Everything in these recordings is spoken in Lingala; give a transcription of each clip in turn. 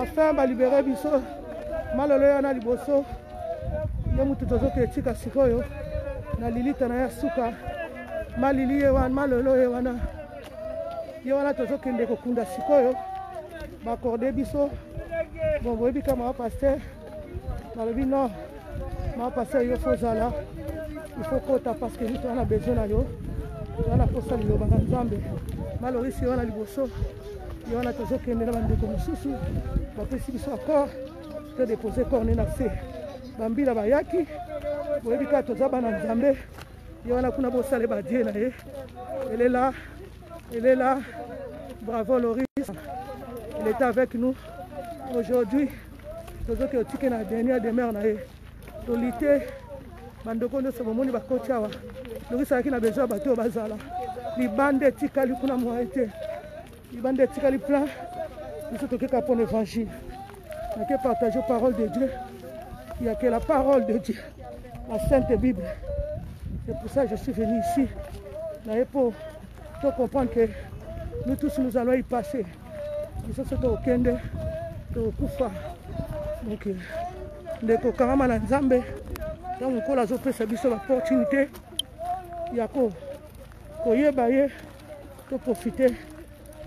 enfin balibere biso malolo ya na liboso ye motu tozoka etika sikoyo na lilita na ya suka malili ye wana malolo ye wana ye wana tozokende kokunda sikoyo bakorde biso bon boyebi kama wa paster balobi non mapasa yo fo ozala il faut kota parce que toza na besoin na yo toza na mposa liloba na nzambe malorisi ye wana liboso ye wana tozokende na bandeko mosusu bapesi biso accord to depose corne na se bambila bayaki boyebi kaka toza bana nzambe ye wana kuna bosale badie na ye elela elela bravo loris il est avec nous aujourd'hui tozoki otike na dernière demeure na ye tolite bandoko nyonso bomoni bakoti awa nokisaki na besoin ya bato oyo bazala libanda etikali kuna moye te libanda etikali plein biso tokeka mpo na évangile nake partage parole de dieu ya que la parole de dieu la sainte bible c'est pour ça je suis venu ici naye mpo to comprendre que nous tous nous allons y passer biso so tokokende tokokufa donc ndeko kangama na nzambe ntango nkolo azopesa biso baopportunité ya koyeba ye toprofite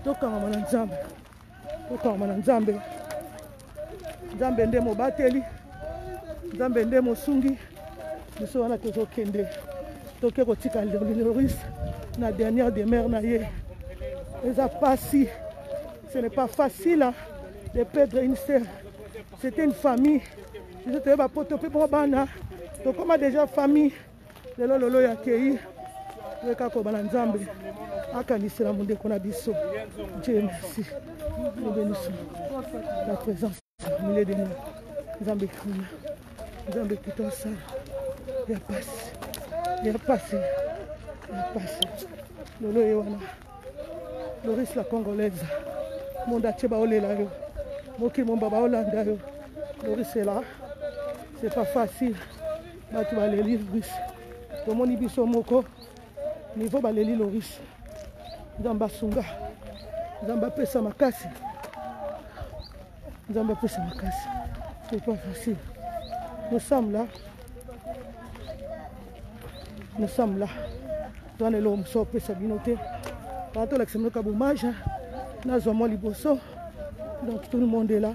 tokangama na nzambe tokangama na nzambe nzambe nde mobateli nzambe nde mosungi biso wana tozokende toke kotika loris na dernière demeure na ye eza pasi ce n'est pas facile hein, de perdre une sœur c'était une famille biso toyeba poto mpe mwa bana tokóma déjà famille lelo lolo ya kei toyeka koba na nzambe akanisela mondeko na biso dieu merci nous bénissons la présence au milieu de nous nzambe kuna nzambe kuta osala ya pasi ya pasi ya pasi lolo ye wana loris la congolaise monde atie baolela yo mokili momba baolanda yo loris ela c'est pas facile bato baleli loris tomoni biso moko nivo baleli loris nzambe asunga nzambe apesa makasi nzambe apesa makasi c'est pas facile nous sommes là nous sommes là toza na eloko mosusu opesa bino te aa tolakisa bino ka bomage nazwa mwa liboso donc tout le monde est là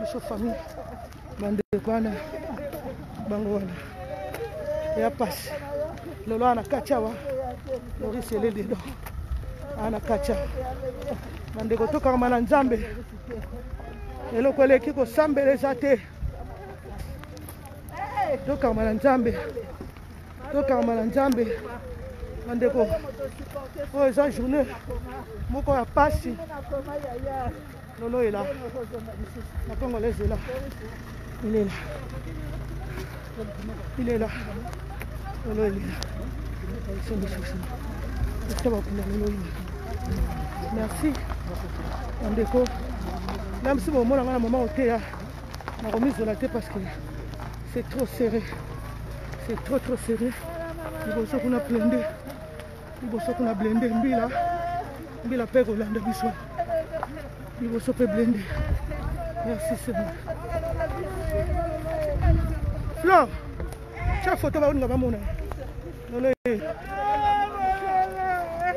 biso famille bandeko wana bango wana ya pasi lelo wana kati awa loris eleli do ana kati awa bandeko tokangama na nzambe eloko eleki kosambela eza te tokangama na nzambe tokangama na nzambe bandeko oyo eza journée moko ya pasi lolo ela na kongo lezela ilela ilela lolo elela somisosima ekuta bakunda lolo ina merci bandeko na biso bomona ngai na mama oteya nakomizola te parce que c'est trop serré c'est trop trop serré liboso kuna plende liboso kuna blende mbila mbila mpe kolanda biso liboso mpe blende merci sema flor tya foto baoninga bamona lolo yeyo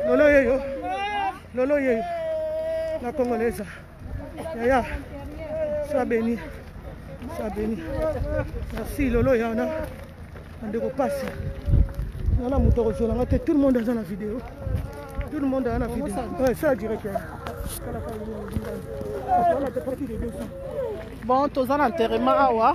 lolo yeyo lolo yeyo na congolaise yaya soit béni soit béni merci lolo ya wana bandeko pasi nga na moto akozwela nga te tout le monde aza na video tout le monde aza na video sala direct bon toza na enterrement awa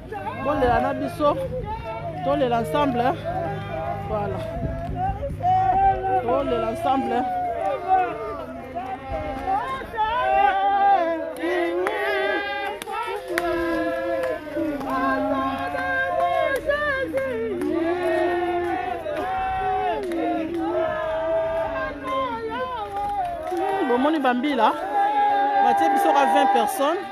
bolela na biso tolela ensemble voilà tolela ensemble bomoni bambila batie biso ka 20 personnes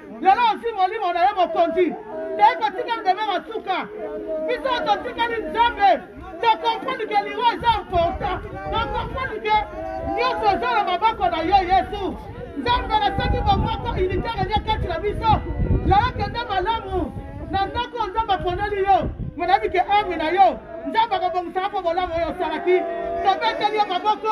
lelo ozwi molimo na yo mokonzi toyei kotika nzambe na suka biso totikali nzambe tokomprendre ke liwa eza important tokomprendre ke nyonso eza na maboko na yo yesu nzambe nasaki bomoko unitaire elia kati na biso lelo kende malamu na ndako nzambe aponeli yo monayebi ke ame na yo nzambe akobongisaka mpo bolamu oyo osalaki tobeteli yo maboko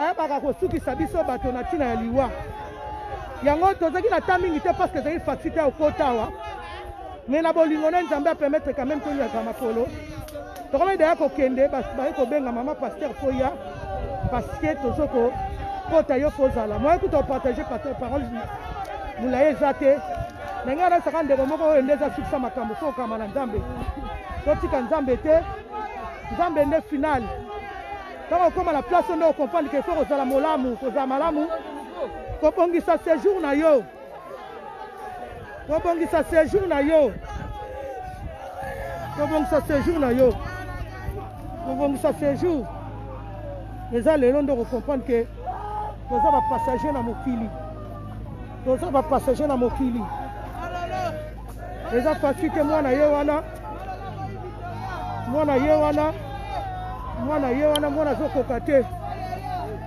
ayebaka kosukisa biso bato na ntina ya liwa yango tozalaki na ta mingi te parce que ezalaki faxi te okota awa mais na bolingo na nzambe apermettre quand même toliaka makolo tokomaki daya kokende baye kobenga mama paster mpo ya parce que tozo kokota yo mpo ozala moye kuta opartage paster parole molai eza te ndenge wana esaka ndeko moko oyo nde ezasukisa makambo so okama na nzambe totika nzambe te nzambe nde finale Tango okoma na place oyo nde okomprendre ke faut kozala molamu, kozala malamu, kobongisa sejour na yo, kobongisa sejour na yo, kobongisa sejour na yo, kobongisa sejour eza lelo nde okokomprendre ke toza bapassager na mokili, toza bapassager na mokili. eza facile te mwana ye wana mwana ye wana mwana ye wana mwana azokoka te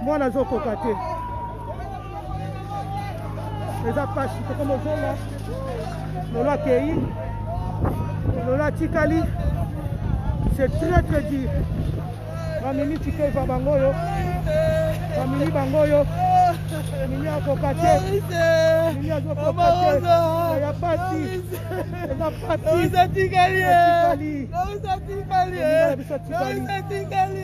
mwana azokoka te eza pasi tokoma ozonga lolo akei lolo atikali c'est très très dur bamemi ticket va bango oyo bamemi bango oyo mimi akoka te mimi azokoka te ya pasi eza pasiatikali biso tikali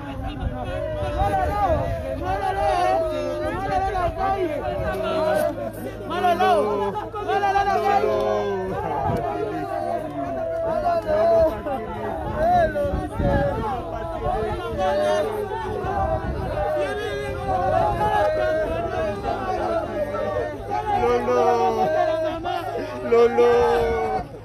Lolo. Lolo.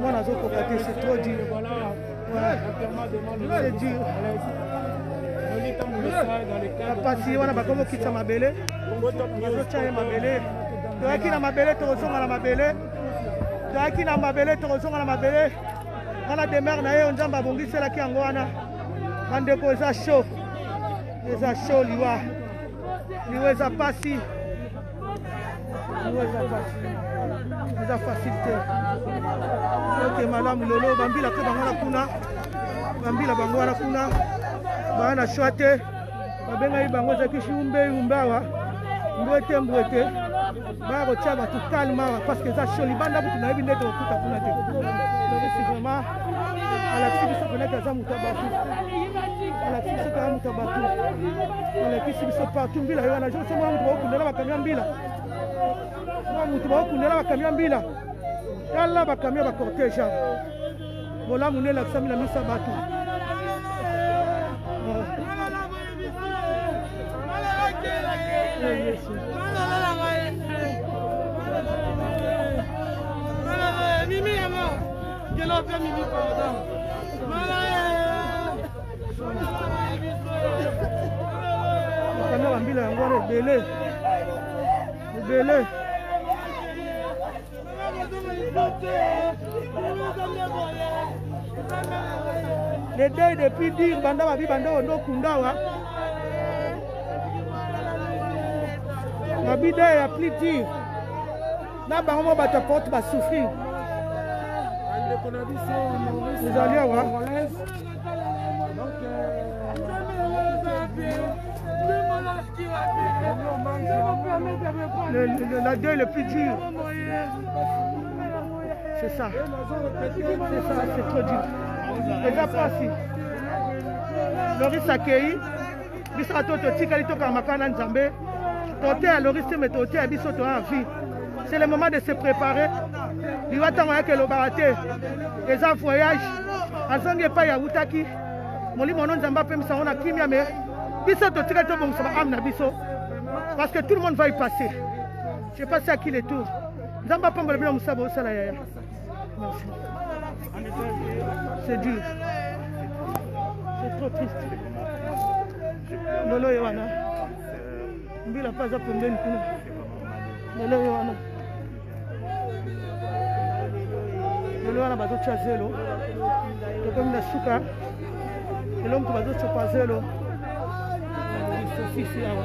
mwana azokoka te c'est trop dur c'est dur bapasi wana bakomokitisa mabele bazotya ye mabele toyaki na mabele tokozonga na mabele toyaki na mabele tokozonga na mabele wana demere na ye oyo nzambe abongiselaki yango wana bandeko eza sho eza sho liwa liwa eza mpasi eza facile te oke malamu lelo bambila mpe bango na kuna bambila bango wana kuna baa na shwa te babengaki bango ezalaki shiumbe yumbe awa mbwe te mbwe te baya kotya bato kalme awa parce que eza sho libanda kutu nayebi nde tokokuta kuna te tokisi vraiment alakisi biso penaki aza moto ya bato alakisi biso kaka moto ya bato alakisi biso partout mbila yo wana jour so mwa moto bakokundela bakamia mbila mwa moto bakokundela bakamia mbila tala bakamia bacortege awa bolamu nde elakisami na miso ya bato yesu Kanda bambila yango wana ebele ebele le deuil depuis dire banda babi banda oyo nde okunda wa babi deuil ya plus dire na bango moko bato ya porte basouffrir ezali awa le, le, le, la deuil le plus dur c'est ça c'est ça c'est trop dur eza pasi loris akei biso bato totikali tokanga makala na nzambe toteya loriste me toteya biso toya vie c'est le moment de se préparer liwa ntango ayaki elobaka te eza voyage azongi epai awutaki molimo ono nzambe apemisa yango na kimia me biso totikali tobongisa baame na biso parce que tout le monde va y passer je passe à qui le tour nzambe apambola bino mosala bosala yaya C'est dur. C'est trop triste. Lolo Yohana. Mbila pas à pembeni kuna. Lolo Yohana. Lolo Yohana bazotya zelo. Tokomi na suka. Lelo moto bazocopa zelo. Sosisi awa.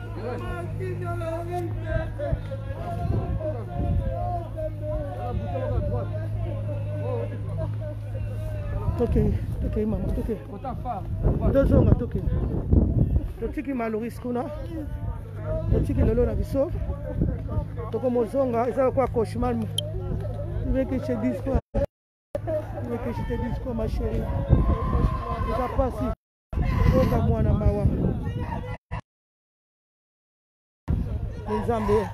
tokei tokei mama tokei tozonga tokei totiki maloris kuna totiki lelo na biso tokomozonga eza lokola cauchemar vekeche disco vekeche te disco ma chérie eza pasi Oka mwana mawa. Nzambe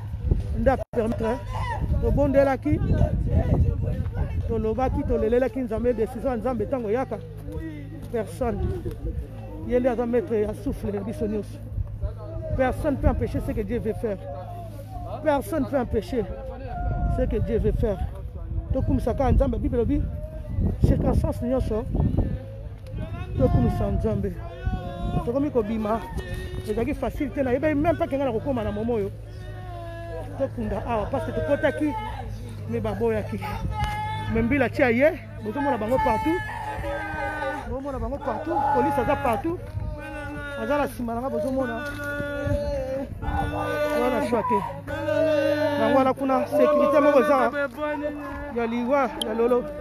nda permettre tobondelaki tolobaki tolelelaki nzambe décision ya nzambe ntango eyaka personne ye nde aza maître ya souffle ya biso nyonso personne peut empêcher ce que dieu veut faire personne peut empêcher ce que dieu veut faire tokumisa kaka nzambe bible elobi circonstance nyonso tokumisa nzambe tokomi kobima ezalaki facile te nayebaki meme mpake ngai na kokóma na momo oyo tokunda awa parce que tokotaki me baboyaki me mbila tia ye bozomona bango partout bozomona bango partout polise aza partout aza na nsima na ngai bozomona oza na shwa te yango wana kuna sécurité moko eza ya liwa ya lolo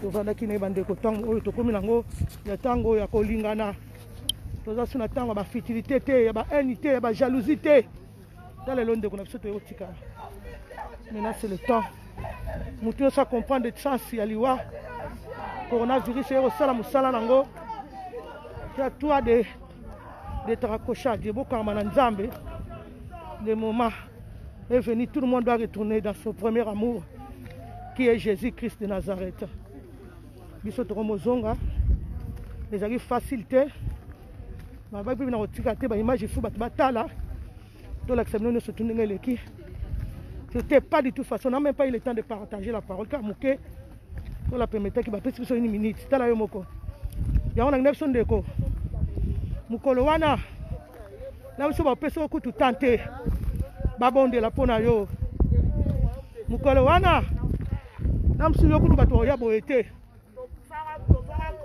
tozalaki na ye bandeko ntango oyo tokomi nango ya ntango ya kolingana toza so na ntango ya bafitilité te ya bahaine te ya bajalousie te ta lelo ndeko na biso toyokotikala maintenant c'est le temps motu nyonso acomprendre chance ya liwa coronavirus eye kosala mosala nango ya toi de de tarakoshage ebokangama na nzambe le moment est venu, tout le monde doit retourner dans son premier amour, qui est Jésus-Christ de Nazareth. biso tokomozonga ezali facile te babaki mpe na kotika te baimage fo bato batala tolakisa bino nyonso tu ndenge eleki c'était pas du tout façon na même pas eu le temps de partager la parole kaka moke tola permetaki bapesi biso une minute tala yo moko yango na ngina biso ndeko mokolo wana na biso bapesi yo kutu tan te babondela mpo na yo mokolo wana na mosusu yo kutu bato oya boye te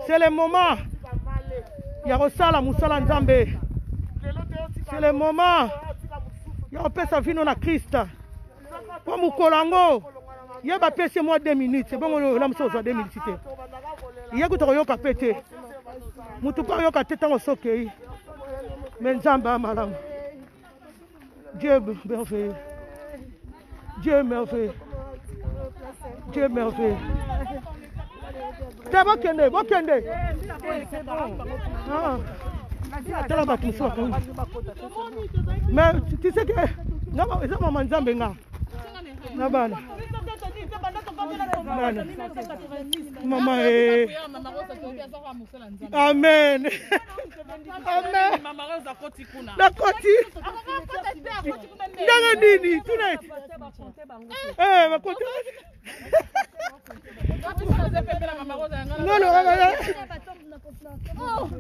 c'est le moment ya kosala mosala nzambe c'est le moment ya kopesa vino na krista mpo mokolo yango ye bapesi mwa 2 minutes ebongo ola mosusu ozwa 2 minutes te ye kuta koyoka mpe te motu mpe ayoka te ntango sokei me nzambe ya malamu dieu merveilleux dieu merveilleux dieu merveilleux te bokende bokende ah. tala bato mosusu bakangi mais tu sais que eza mama nzambe nga na bana bana mama e amen amen nakoti ndenge nini tuna bakoti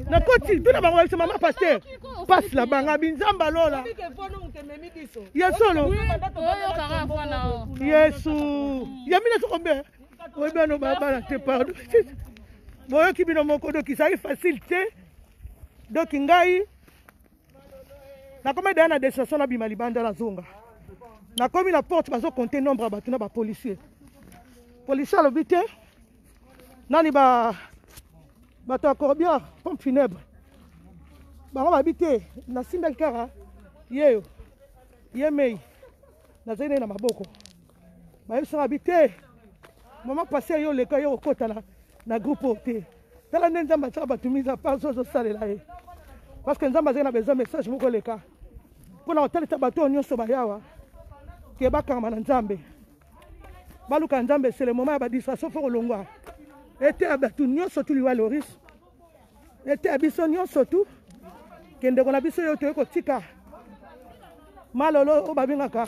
nakoti tuna bango balisa mama paster pasi na banga binzamba lola ya solo yesu ya mina sokombe oyebi ano babala te pardon boyoki bino moko doki ezali facile te doki ngai nakomi daya na destination nabima libanda nazonga nakomi na porte bazokonte nombre ya bato na bapolicier policier alobi te nani ba bato ya corbière pompe funèbre bango babi te nasimbaki kaka yeyo ye mei nazali nai na maboko bayebisaka bi te mama pase yo oleka yo okota na, na groupe oyo te tala nde nzambe atyaka bato miza pasi ozosalela ye parce que nzambe azali na besoin message moko oleka mpo na kotalisa bato oyo nyonso bayawa ke bakangama na nzambe baluka nzambe c'est le moment ya badistraction fo kolongwa eteya bato nyonso tu liwa loris eteya biso nyonso tu kendeko na biso yo toye kotika malolo oyo babengaka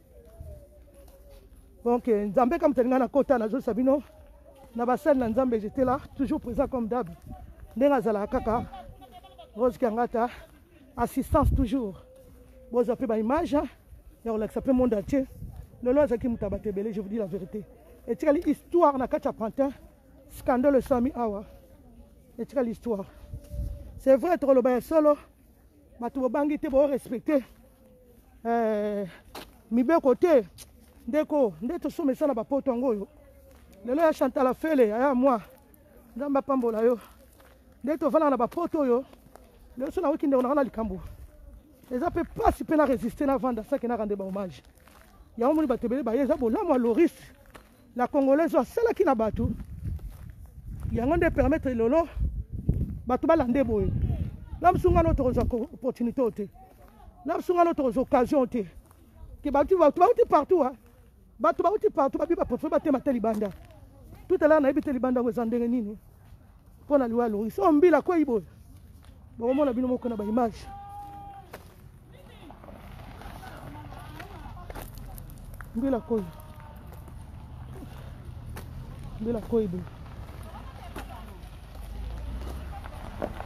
donc euh, nzambe kama talinga na kota nazolisa bino na basali na nzambe j'étais là toujours présent comme dab ndenge azalaka kaka rose kiangata assistance toujours bozwa mpe baimage ya kolakisa mpe monde entier lelo azalaki moto ya bato ebele je vous dis la vérité etikali histoire na kati ya pantin scandale esami awa etikali histoire c'est vrai tokoloba ya solo bato bobangi te bo respecte eh, mibeko te ndeko nde tosoma esala bapoto yango oyo lelo ya chantala fele aya mwa nzambe apambola yo nde tofandaka na bapoto oyo lelo so nakoki ndeko nanga na likambo eza mpe mpasi mpe na resiste na vanda sake naka nde bahommage yango moni bato ebele baye eza bolamu ya loris la congolaise oyo asalaki na bato yango nde permettre lelo bato balande boye na biso ngana tokozwa opportunité oyo te na biso ngana tokozwa occasion te ke bato bauti partout a bato bauti partout babi baprofile batema te libanda tout à l'heure nayebi te libanda yango eza ndenge nini mpo na liwa ya loris oyo mbila kwei boye bokomona bino moko na baimage mbila koi mbila koi boye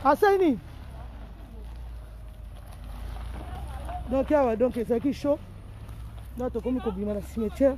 asali nini donc awa donc ezalaki chaud na tokomi kobima na cimetière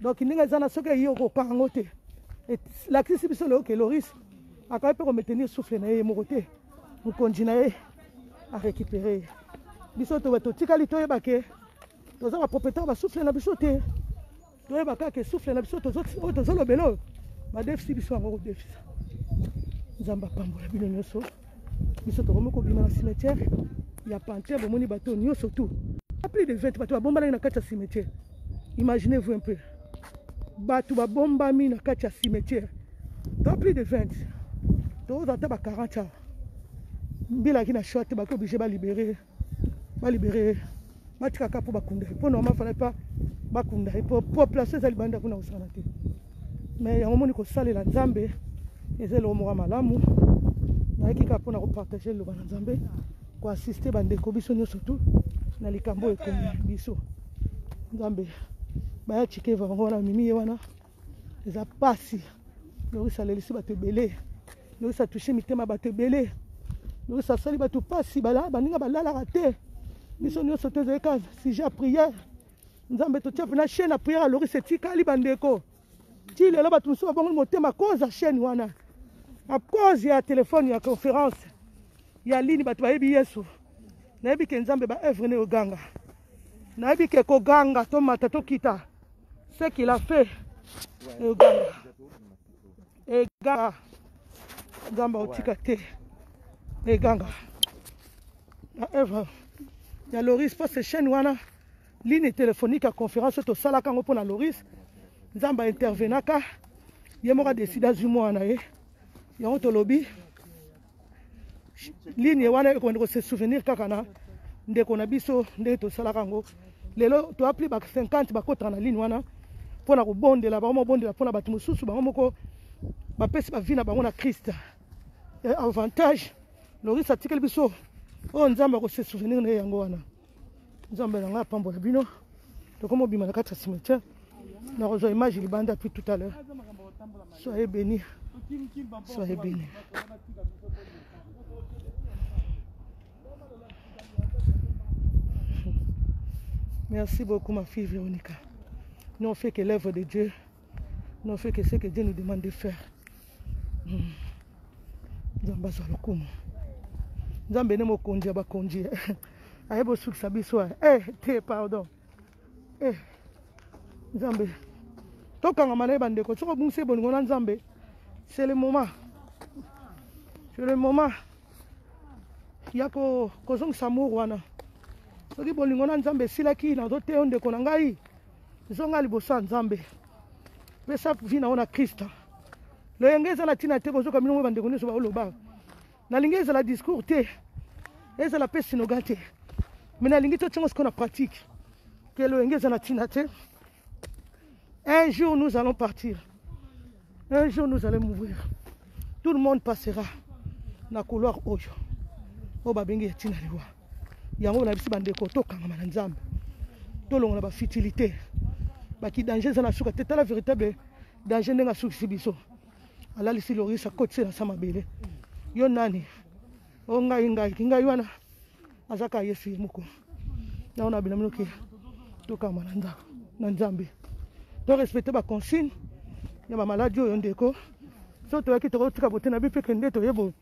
donc ndenge eza na soki eyi okokanga yango te elakisi biso lelo ke loris akoki mpe kometenir souffle na ye moko te mokonzi na ye arécupere ye biso totikali toyeba ke toza bapropriétaire basouffle na biso te toyeba kaka ke souffle na biso oyo tozolobela oyo badefisi biso yango kodefisa nzambe apambola bino nyonso biso tokomi kobima na cimetière ya pantin bomoni bato nyonso tout a plus de 20 bato babombanaki na kati ya cimetière imaginez vous un peu bato babombami na kati ya cimetière to plus de 20 tokozala ata ba 40 awa mbelaki na choix te bakoki oblige balibere ba libere batika kaka mpo bakunda ye mpo normal fala epa bakunda ye mpo population eza libanda kuna kosala te mais yango moni kosalela nzambe eza eloko moko ya malamu nayaki kaka mpo na kopartage liloba na nzambe koassiste bandeko biso nyonso tu na likambo oyo ekomi biso nzambe baya chikeva yango wana mimi ye wana eza mpasi loris alelisi bato ebele Noris a touche mitema ya bato ebele. Noris asali bato mpasi, baninga balalaka te. Biso nyonso te ezali kaka sujet ya prière. Nzambe totia mpena chaîne ya prière ya Loris etikali bandeko. Ti lelo bato mosusu babongoli motema cause ya chaîne wana. A cause ya telefone ya conférence ya lini bato bayebi Yesu. Nayebi ke Nzambe ba œuvre ne oganga. Nayebi ke koganga tomata tokita ce qu'il a fait. Oganga. eganga nzambe akotika te eganga na œuvre ya loris mpo se chaîne wana ligne téléphonique ya conférence oyo tosalaka yango mpo na loris nzambe aintervenaka ye moko adeside azwi mwana na ye yango tolobi ligne wana ekobanda ko se souvenir kaka na ndeko na biso ndenge tosalaka yango lelo toa plus ba 50 bakotaka na ligne wana mpo na kobondela bango mobondela mpo na bato mosusu bango moko bapesi bavi na bango na krista avantage loris atikeli biso oyo nzambe akose souvenir na ye yango wana nzambe na ngai apambola bino tokoma obima na kati ya cimetière nakozwa image libanda puis tout à l'heure soyez béni soyez béni merci beaucoup ma fille véronica nous on fait que l'œuvre de dieu Non, fait que ce que Dieu nous demande de faire. Hmm. Nzambe azwa lokumu. Nzambe ne mokonzi ya bakonzi. Ayebi osukisa biso. Eh, te pardon. Eh. Nzambe. Tokangama na ye bandeko. Soki obungisi ebolingo na Nzambe, c'est le moment. C'est le moment. ya kozongisa mur wana soki bolingo na nzambe esilaki nazoteyo ndeko na ngai zonga liboso ya nzambe pesa vi na yo na krista loyenge eza na ntina te bozoka bino ngo bandeko nyonso baoloba nalingi ezala discours te ezala mpe sinoga te me nalingi totiango sikoyo na pratique ke loyenge eza na ntina te un jour nous allons partir un jour nous allons mourir tout le monde passera na couloir oyo oyo babengi ya ntina liwa yango na bisi bandeko tokangama na nzambe tolongola bafutilité baki danger eza na suka te tala véritable danger ndenge asukisi biso alalisi loris akotisi na sa mabele yo nani o oh, ngai ngai kingai wana aza kaka ye fili moko yango na bino minoki tokangama na ndako na nzambe to respecte baconsigne ya bamaladi oyo ndeko so toyaki tokotika bote na bi mpe kende toye boye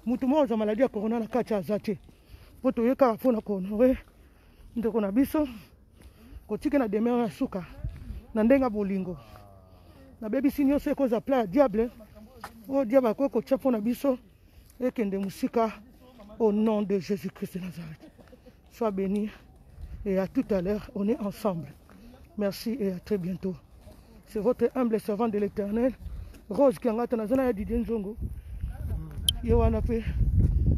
moto moko azwa maladi ya corona na kati aza te mpo toye kaka mpo na kohonore ndeko na biso kotike na demeure ya suka na ndenge ya bolingo nabebisi nyonso ekozwa pla ya diable oyo diable akoki kotya mpo na biso ekende mosika au nom de jésus christ de nazareth Sois béni et à tout à l'heure, on est ensemble. Merci et à très bientôt. C'est votre humble servante de l'éternel, Rose Kiangata, na zona ya Didier Nzongo. Ye wana pe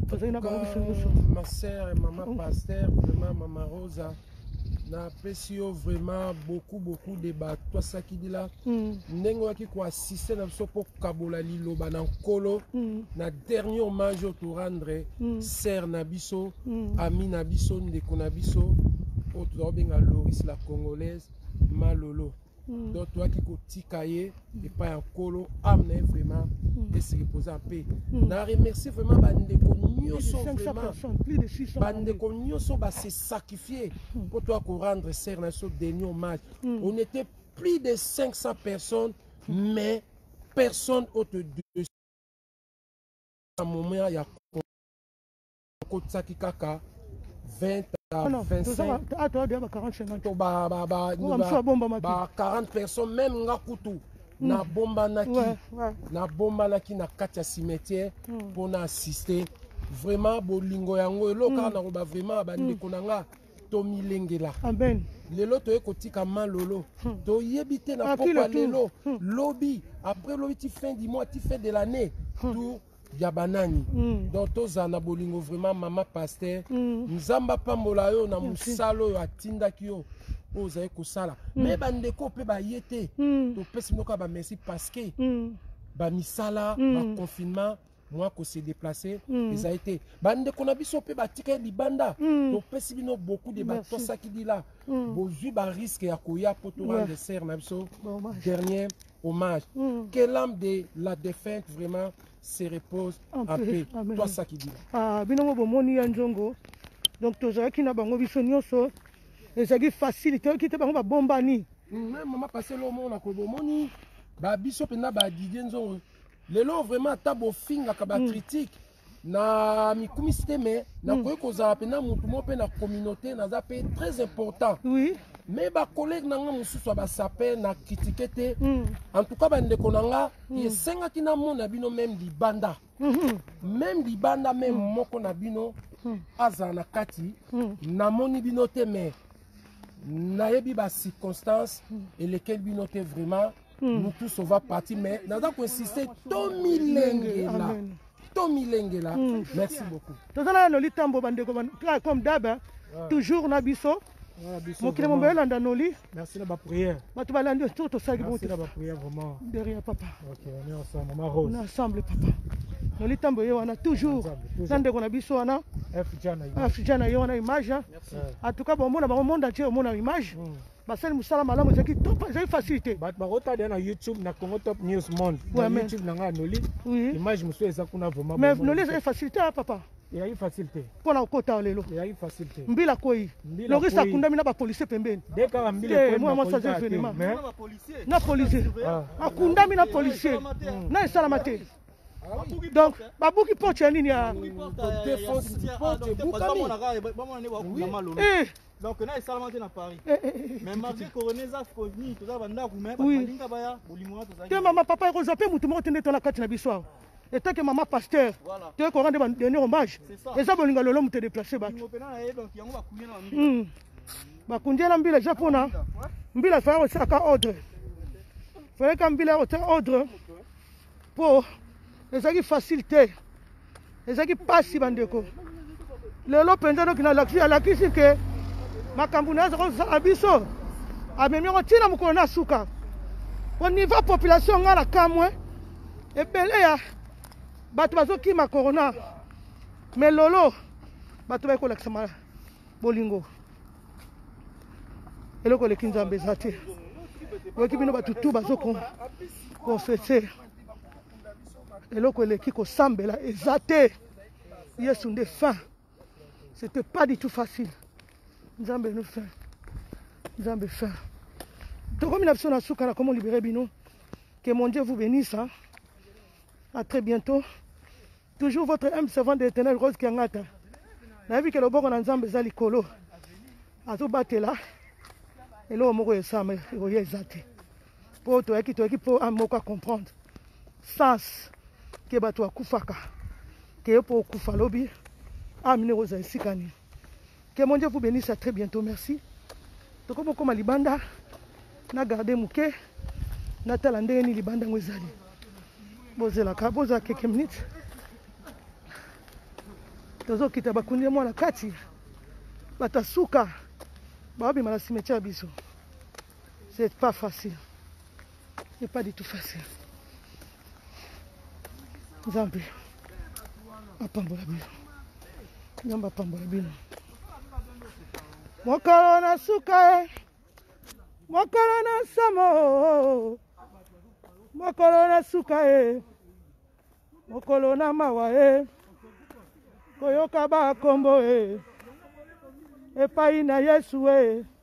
tozali na bango biso nyonso. Ma sœur et maman pasteur, vraiment maman Rosa, napesi yo vraiment beaucoup beaucoup de bato asakidila ndenge oyaki koasi siste na biso mpo kabola liloba na nkolo mm. na dernier hommage oyo torendre mm. sere na biso mm. ami na biso ndeko na biso oyo tozakobenga loris la congolaise malolo mm. donc toyaki kotika ye mm. epai ya nkolo ame na ye vraiment mm. esili mpoza mpe mm. na remercie vraiment bandeko nyonso vraiment bandeko nyonso base sacrifie mpo mm. toya korendre sere na biso deni hommage mm. on était plus de 500 personnes mais personne autre de à moment ya kotisaki kaka 20 à 25 ah, to ba ba ba ba 40 personnes même nga kutu hmm. nabombanaki nabombanaki na kati ya cimetière hmm. mpo na assister vraiment bolingo yango elokaka hmm. na koba vraiment bandeko na nga tomilengela amen lelo toye kotika malolo hmm. toyebi te na pokwa lelo hmm. lobi après lobi ti fin du mois ti fin de l'année hmm. tour ya banani mm. donc tozala na bolingo vraiment mama paster mm. nzambe apambola yo na mosala oyo atindaki yo oyo ozali kosala mm. me bandeko mpe baye te mm. topesi moko ya bamerci parce que mm. bamisala mm. baconfinement mwa ko se déplacer mm. ezali te bandeko na biso mpe batika ye libanda mm. topesi bino beaucoup de batosaki dila mm. bozwi bariske ya koya mpo torendre yeah. sere na biso dernier hommage mm. que l'âme de la défunte vraiment se repose en, en paix tosaki dila ah, bino ngo bomoni ya nzongo donc tozalaki na bango biso nyonso ezalaki facile toyoki te bango babombani mm, mama paselo omona kobomoni babiso mpenza badidie nzongo lelo vraiment ata bofingaka ba critique mm. na mikumisi te me nakoki mm. kozala mpena motu moko mpe na communauté naza mpe très important oui. me bacollege na nga mosusu ya basape na kritike te mm. en tout cas bandeko na nga mm. esengaki namona bino meme libanda mm -hmm. meme libanda meme mm. moko na bino mm. azala na kati mm. namoni bino te me nayebi bacirconstance mm. elekeli bino te vraiment hmm. nous tous on va partir mais naza koinsiste tomilengela tomilengela hmm. merci beaucoup toza na yanoli tambo bandeko comme daba toujours na biso mokili mombe olanda noli merci na baprière bato balandi oto tosalaki bote de rien papa na ensemble papa noli ntambo ye wana toujours na ndeko na biso wana fja na ye wana image en tout cas bomona bango monde atie omona image mm. basali mosala malamu ezalaki top ezalaki facilité bato bakotala na youtube na congo top news monde na youtube na ngai noli image mosusu eza kuna vraiment mais noli ezalaki facilité ya papa eyaki facile te mpo na kokota lelo eyaki facile te mbila kwei lorisa akundami na bapolisie pembeni mwana mwasi aza evenema na polisie ah. akundami na polisie na esalama te Ah donc babuki porte ya nini ya donc na esalama te na paris eh, eh, eh, mais marché corone eza foni toza bandako me balinga baya bolingo wana tozali te mama papa ekozwa mpe motu moko te nde tona kati na biso awa etant que mama pasteur toyei korendre badenier hommage eza bolingo lelo moto edeplace bato hmm. bakundela mbila eza mpona mbila faya kosalaka ordre fayaka mbila ya kotia ordre po ezaki facile te ezaki mpasi bandeko lelo mpenza noki nalakisi alakisi ke makambo na aza kozala biso amemi yango ntina mokolo na suka po niveau population ngai na kamwe ebele ya bato bazokima corona me lolo bato bayekolakisa bolingo eloko eleki nzambe eza te oyoki bino bato tu bazo konfese eloko eleki kosambela eza te yesu nde fin c'était pas du tout facile nzambe no fin nzambe fin tokomi na biso na suka na komo libere bino que mon dieu vous bénisse hein? à très bientôt Toujours votre humble servant de l'éternel Rose Kiangata. Nayebi ke loboko na Nzambe eza likolo. Azobatela eloko moko esama ekoya eza te. Po toyaki toyaki po ame moko a comprendre. Sens ke bato akufaka. Ke yo po okufa lobi ame nde ekozala esika nini. Que mon Dieu vous benisse à très bientôt merci. Tokomi okoma libanda na garde moke natala ndenge nini libanda yango ezali bozelaka bozala keke minute tozokita bakundi ya mwana kati bato ya suka baobima na simetia ya biso C'est pas facile. C'est pas du tout facile. Nzambe apambola bino. Nzambe apambola bino. Mokolo na suka e. Mokolo na nsamo. Mokolo na suka e. Mokolo na mawa e. Koyoka ba kombo e. Epai na Yesu e.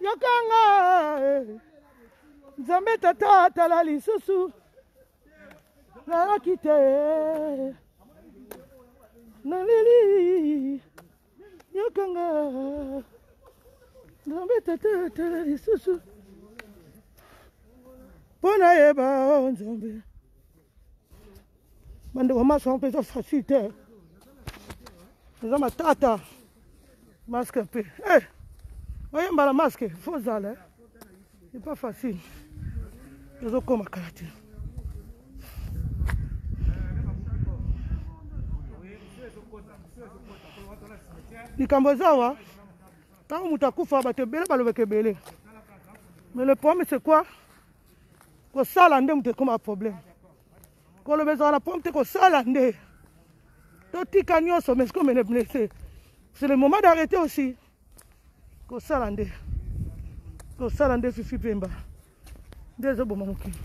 yokanga eh. nzambe tata atala lisusu nalaki te naleli yokanga nzambe tata atala lisusu mpo nayeba o oh, nzambe bandeko maso yango mpenza facile te eza matata maske mpe e eh, oyemba na maske fo zala eh. epa facile ezokoma kala te likambo eza awa ntango moto akufa bato ebele balobaka ebele mais le problème c'est quoi kosala nde moto ekoma problème koloba ezala na pompe te kosala nde totika nyonso mais comme les blessés c'est le moment d'arrêter aussi kosala nde kosala nde fifi pemba nde ezoboma mokili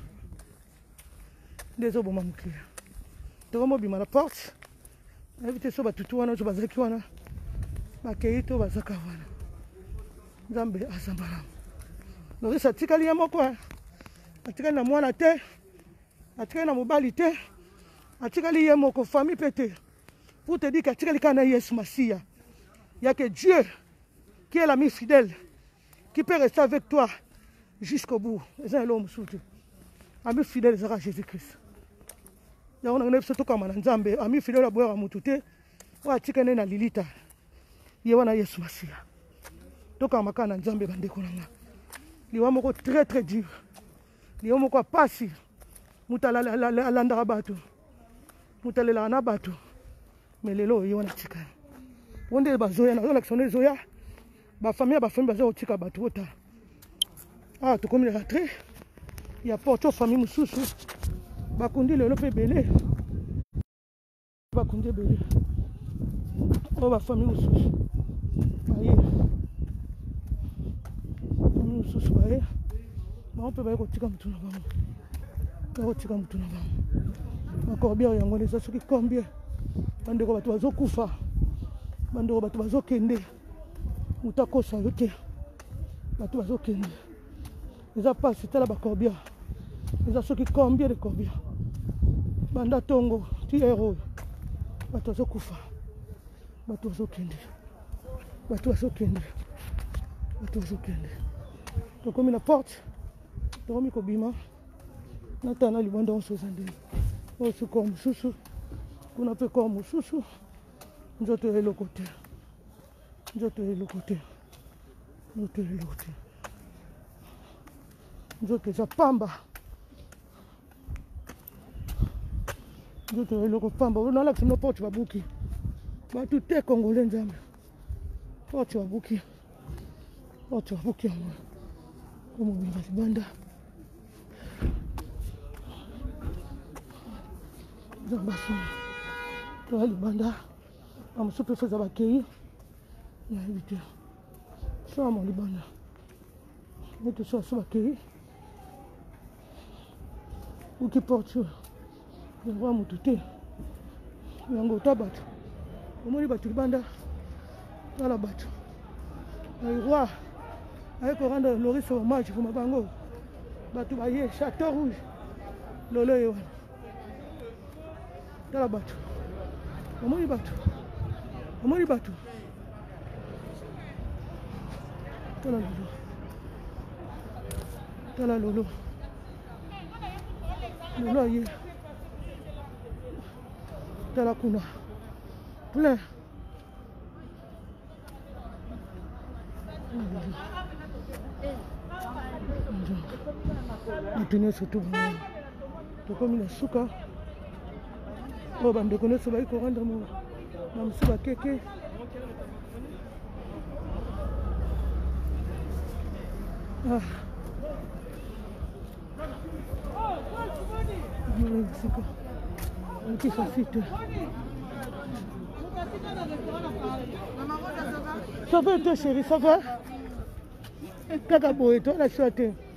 nde ezoboma mokili tokomobima na porte nayebi te so batutu wana oyo bazalaki wana bakei to bazaka wana nzambe aza malamu noris atikali ye moko eh. atikali na mwana te atikali na mobali te atikali ye moko famille mpe te pour te dire que atikali kaka na yesu masiya ya que dieu qui est l'ami fidèle qui peut rester avec toi jusqu'au bout eza na eloko mosusu te ami fidèle ezaka jésus christ yango nango na biso tokamba na nzambe ami fidèle aboyaka motu te oyo atika nde na lilita ye wana yesu masiya tokamba kaka na nzambe bandeko na nga liwa moko très très dur yo moko ya pasi moto alandaka bato moto alelaka na bato me lelo oye wana tika o nde bazoya nazolakisa nde ezoya bafamille ya bafamille baza kotika bato botala awa tokomi na rentre ya porto famille mosusu bakundi lelo mpe ebele bakonzi ebele oyo oh, bafamille mosusu baye famille mosusu baye bango mpe baye kotika motu na bango baye kotika motu na bango bakorbiere yango eza soki combien bandeko bato bazokufa bandeko bato bazokende moto akosa yo te bato bazokende eza mpasi tala bacorbia eza soki combien de corbia banda ntongo ti ere oyo bato bazokufa bato bazokende bato bazokende bato bazokende tokomi na porte tokomi kobima natana libanda onso eza ndenge oyo sukor mosusu kuna mpe kor mosusu nzoto ya eloko te nzoto ya eloko te nzoto ya eloko te nzoto eza pamba nzoto ya eloko pamba nalakisa bino porte babuki bato te congolais nzambe porte babuki porte babuki yango omobimba libanda eza basoni toya libanda bamosusu mpe soza bakei nayebi te soya mo libanda neti soya so bakei uki porture yango ya motu te yango ota bato omoni bato libanda tala bato roi aye korendre loris hommage poma bango bato baye chateau rouge lolo ye wana tala bato omoni bato omoni bato tala lolo tala lolo lelo aye tala kuna plein bato nyonso tokomi na suka oyo bandeko nyonso baki korendre mo na mosusu bakeke ah. sika okisa site ça va te chéri ça va kaka boye to na sio te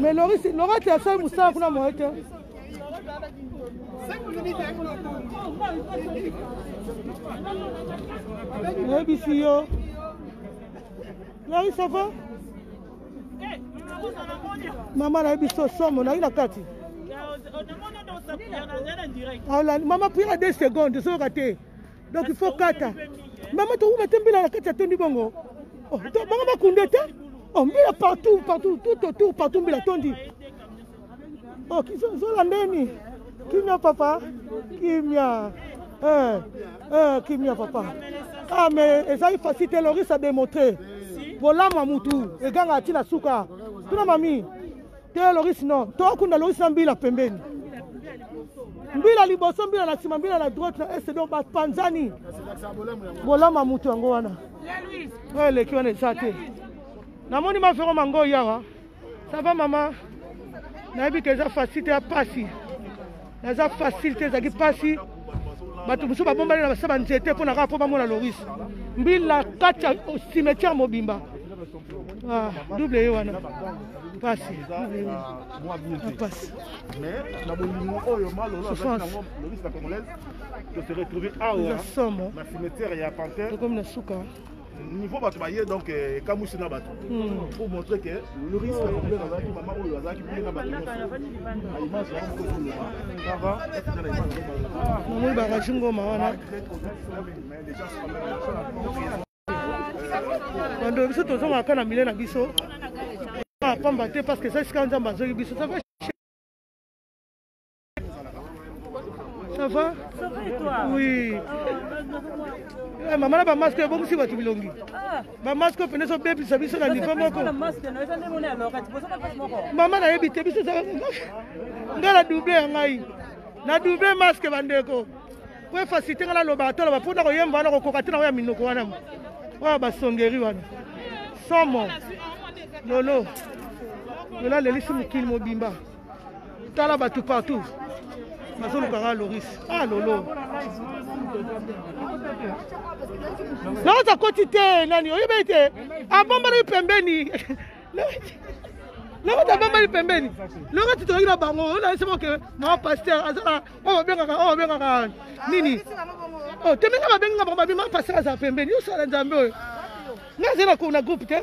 Mais Loris, Laura, tu as ça, Moussa, kuna moi, tu nayebisi yo Loris, ça va mama nayebisi yo somo nayi na kati mama pira 2 secondes soyoka te donc il faut kata mama tokuma te mbila na kati ya tondi bongo oh, bango bakunde te oh, mbila partout partout tout autour partout mbila tondi oh, zolandeni kimia papa kimia eh, eh, kimia papa ah mais ezali facile te loris a démontre bolamu ya mutu eganga atina suka tuna mami te loris no tokunda loris na mbila pembeni mbila liboso mbila na nsima mbila na droite na este donc bapanzani bolama moto yango wana oyo eleki wana eza te namoni mafero mango yawa sava mama nayebi ke eza fasite ya pasi naza facile te ezalaki mpasi bato mosusu babombani na basa banzete mpo na kaka mpo bamona loris mbila kati ya cimetière mobimba ah, double ye wana mpasi mpasi somo tokomi na suka niveau bato baye donc eh, ekamwisi na bato hmm. pour montrer que le risque complet azalaki mama oyo azalaki bien na bato nyosoaimage yango kozoloba kava namoni bakaji ngoma wana bando biso tozongaka na mile na biso ah, pamba te parce que eza esika nzambe azoki biso Ça va Ça va et toi Oui. Ah, eh, mama na bamaske ebongisi bato bilongi ah. bamaske oyo mpenza ezobebisa biso na nivo moko mama nayebi te biso ngai na double ya ngai na double maske bandeko po efasite ngai naloba atoloba mpo na koyemba wana kokoka te na oyo ya minoko wana oyo basongeri wana somo lolo lola lelisi mokili mobimba tala bato partout nazoluka nga loris ah lolo loris akoti te nani oyebi ete abombalaki pembeni loko tabambali pembeni loko titolaki na bango onaesema ke mama paster azala oyo babengaka oyo babengaka nini oh, tembenga babengi nga bango babi mama paster azala pembeni yosala nzambe oyo nazali na groupe te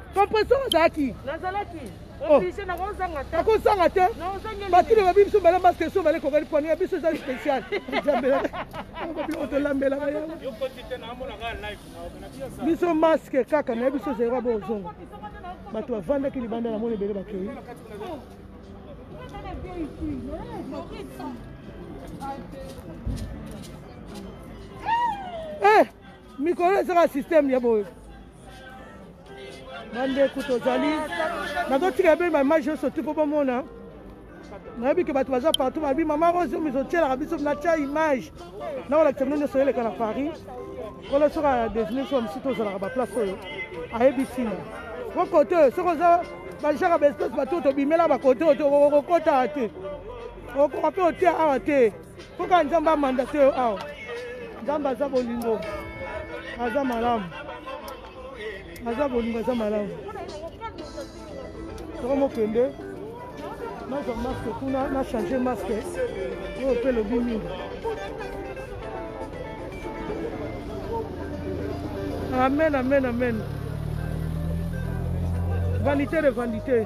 Compressor ozalaki nazalaki oh. oblige na kozanga te akozanga te batu na babi biso bala masque so bale kokali pwani ya biso eza spécial jambela bino tolambela ba yango biso masque kaka na biso zero bo ozonga bato bavandaki libanda na moni ebele bakei eh mikolo ezaka système ya boye bandeko tozali nazotika ebele bamage nyonso ti mpo bomona nayebi ke bato baza partout balobi mama rose miso otyelaka biso natya image nakolakisa bino nyonso eleka na paris kolo soki adesine biso bamosusu tozalaka baplace oyo ayebi ntina po kote oyo soki oza bajaka baespèce bato tobimela bakote oyo okokota te okoka mpe otia awa te Mpo kaka Nzambe amandate yo awa. Nzambe aza bolingo, aza malamu, aza bolingo, aza malamu. Soko mokende nazwa maske kuna na change maske oyo mpe lobi mingi amen amen amen vanité de vanité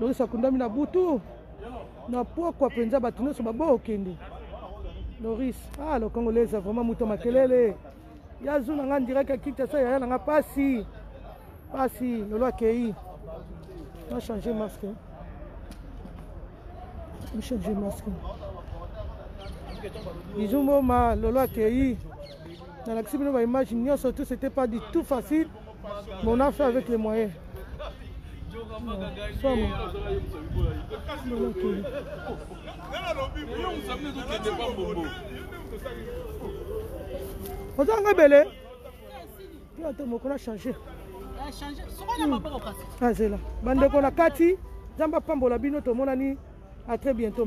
Loris akundami na butu na pokwa mpenza, bato nyonso babokende. Loris, ah le Congolais vraiment moto makelele ya zu na nga ndiraki akita sa yaya na nga pasi pasi lelo akei na changer masque na changer masque bizumboma lelo akei nalakisi bino ba image nyonso tout c'était pas du tout facile mais on a fait avec les moyens oza nga ebele yo ata mokola change azela bandeko na kati nzambe apambola bino tomonani a très bientôt